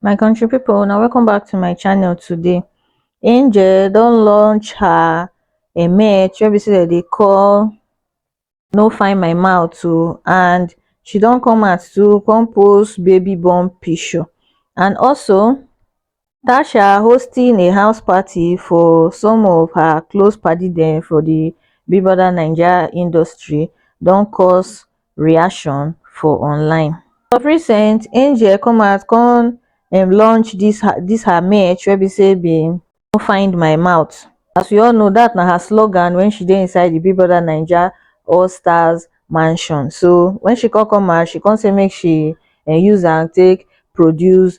my country people now welcome back to my channel today angel don't launch her a match where be say they call no find my mouth too and she don't come out to compose baby born picture and also tasha hosting a house party for some of her close padi dem for di bigbrother naija industry don cause reaction for online of recent angel come out come um launch dis her dis her merch wey be say bin no find my mouth as we all know dat na her slogan wen she dey inside di bigbrother naija all stars mansion so wen she come come out she come say make she um use am take produce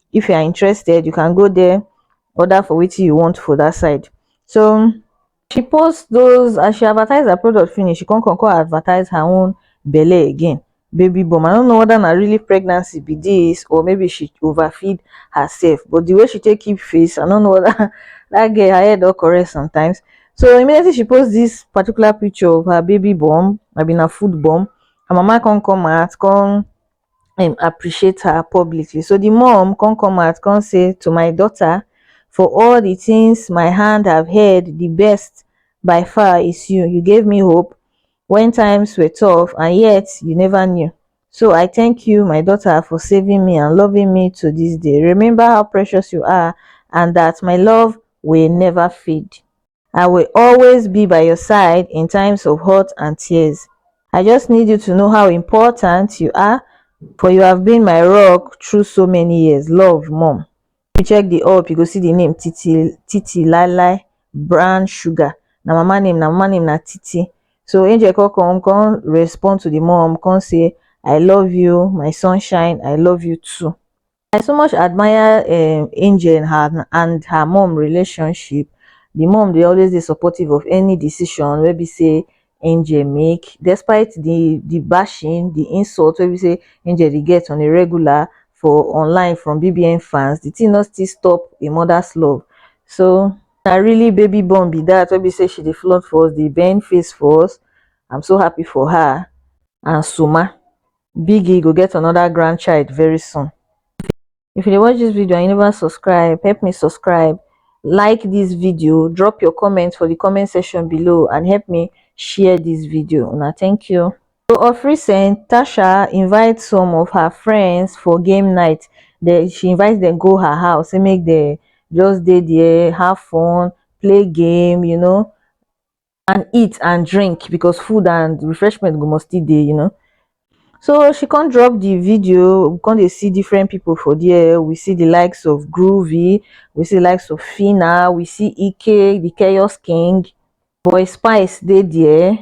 if you are interested you can go there order for wetin you want for that side so she post those as she advertise her product finish she come come come advertise her own belle again baby bum i don't know whether na really pregnancy be this or maybe she overfeed herself but the way she take keep face i don't know whether that girl her head don correct sometimes so immediately she post this particular picture of her baby bum i mean her food bum her mama come come out come um appreciate her publicly so the mom come come out come say to my daughter for all the things my hand have heard the best by far is you you gave me hope when times were tough and yet you never knew so i thank you my daughter for saving me and loving me to this day remember how precious you are and that my love will never fade I will always be by your side in times of hurt and tears. I just need you to know how important you are, for you have been my rock through so many years. Love, mom. You check the up, you go see the name Titi Titi Lala Brown Sugar. Now mama name, now mama name na Titi. So Angel come come come respond to the mom, come say, I love you, my sunshine, I love you too. i so much admire um angel and her and her mum relationship the mum dey always dey supportive of any decision wey be say angel make despite the the bashing the insult wey be say angel dey get on a regular for online from bbn fans the thing no still stop a mother's love so na really baby born be that wey be say she dey flaunt for us dey bend face for us i'm so happy for her and soma biggie go get another grandchild very soon if you dey watch this video and you never subscribe help me subscribe like this video drop your comments for the comment section below and help me share this video now thank you so of recent tasha invites some of her friends for game night they, she invites them go her house and make the just dey there have fun play game you know and eat and drink because food and refreshment go must still dey um so she come drop the video we come dey see different people for there we see the likes of groovy we see the likes of phyna we see ike the chaos king boy spice dey there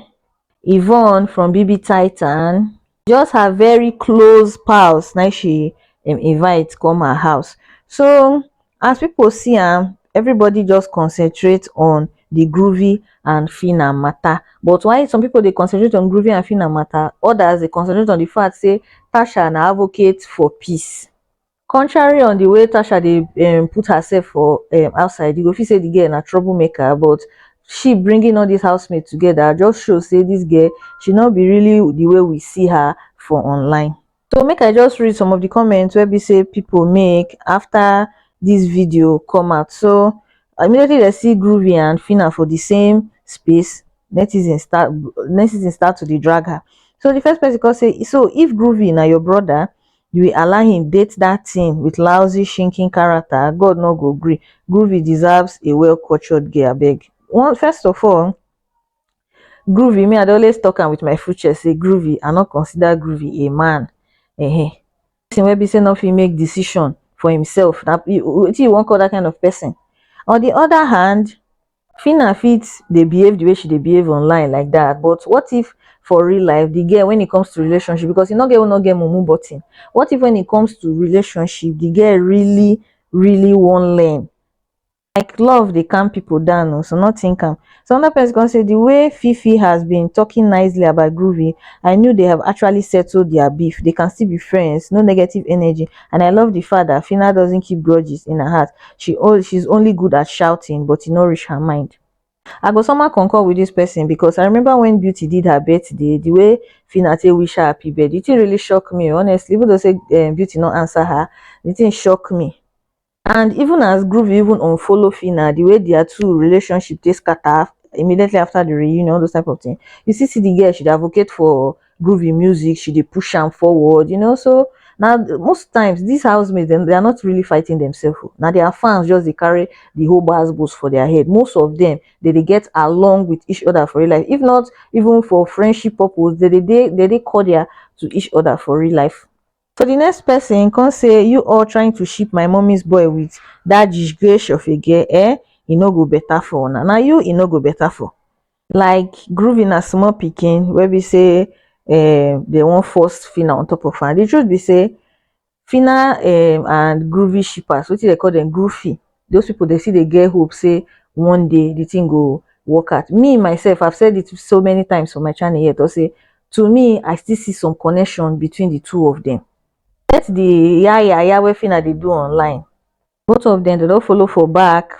yvonne from bb titan just her very close pals na im she um invite come her house so as people see am everybody just concentrate on the Groovy and Phyna matter but while some people dey concentrate on Groovy and Phyna matter others dey concentrate on the fact say Tasha na advocate for peace contrary on the way tasha dey um put herself for um outside you go feel say the girl na trouble maker but she bringing all this housemate together just show say this girl she no be really the way we see her for online so make i just read some of the comments where be say people make after this video come out so immediately they see groovy and fina for the same space netizens start netizens start to dey drag her so the first person come say so if groovy na your brother we allow him date that thing with lousy shrinking character God no go gree Groovy deserves a well cultured girl abeg one first of all Groovy me I dey always talk am with my full chest say Groovy I no consider Groovy a man uh-huh. person wey be say no fit make decision for himself na wetin you wan call that kind of person on the other hand Phyna fit dey behave the way she dey behave online like that but what if for real life the girl when it comes to relationship because e no get who no get mumu button what if when it comes to relationship the girl really really wan learn like love dey calm people down o so no think am so another person come say the way fifi has been talking nicely about groovy i knew they have actually settled their beef they can still be friends no negative energy and i love di fact dat phyna doesn't keep grudges in her heart she she's only good at shouting but e no reach her mind i go somehow concur with dis person because i remember when beauty did her birthday the way phyna take wish her happy birthday the thing really shock me honestly even though say um, beauty no answer her the thing shock me and even as groove even unfollow phyna the way their two relationship dey scatter immediately after the reunion all those type of thing you see see the girl she dey advocate for groovy music she dey push am forward you know so now most times these housemates them they are not really fighting themselves oh. now their fans just they carry the whole bars boost for their head most of them they they get along with each other for real life if not even for friendship purpose they they they, they, they call their to each other for real life so the next person come say you all trying to ship my mummy's boy with that disgrace of a girl eh e no go better for una na you e no go better for like groovy na small pikin wey be say um, they wan force fina on top of her the truth be say fina um, and groovy shippers wetin they call them groovy those people they see they get hope say one day the thing go work out me myself i've said it so many times on my channel yet i say to me i still see some connection between the two of them let the yeah yeah yeah wey fina they do online both of them they don't follow for back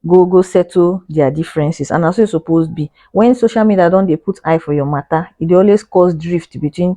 go go settle their differences and as so e suppose be when social media don't they put eye for your matter it always cause drift between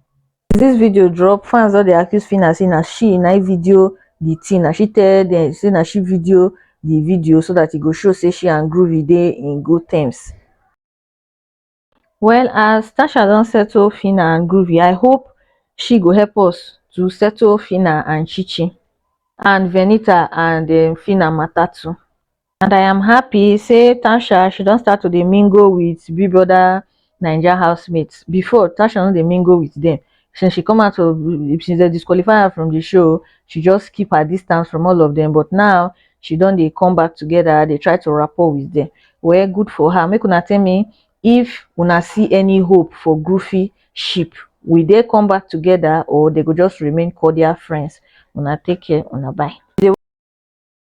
this video drop fans don dey accuse phyna say na she na im video the thing na she tell dem say na she video the video so that e go show say she and groovy dey in good terms well as tasha don settle phyna and groovy i hope she go help us to settle phyna and chichi and venita and um phyna matter too and i am happy say tansha she don start to dey mingle with big brother naija housemates before tansha no dey mingle with them since she come out of since they disqualify her from the show she just keep her distance from all of them but now she don dey come back together dey try to rapport with them well good for her make una tell me if una see any hope for groovy ship will they come back together or they go just remain cordial friends una take care una bye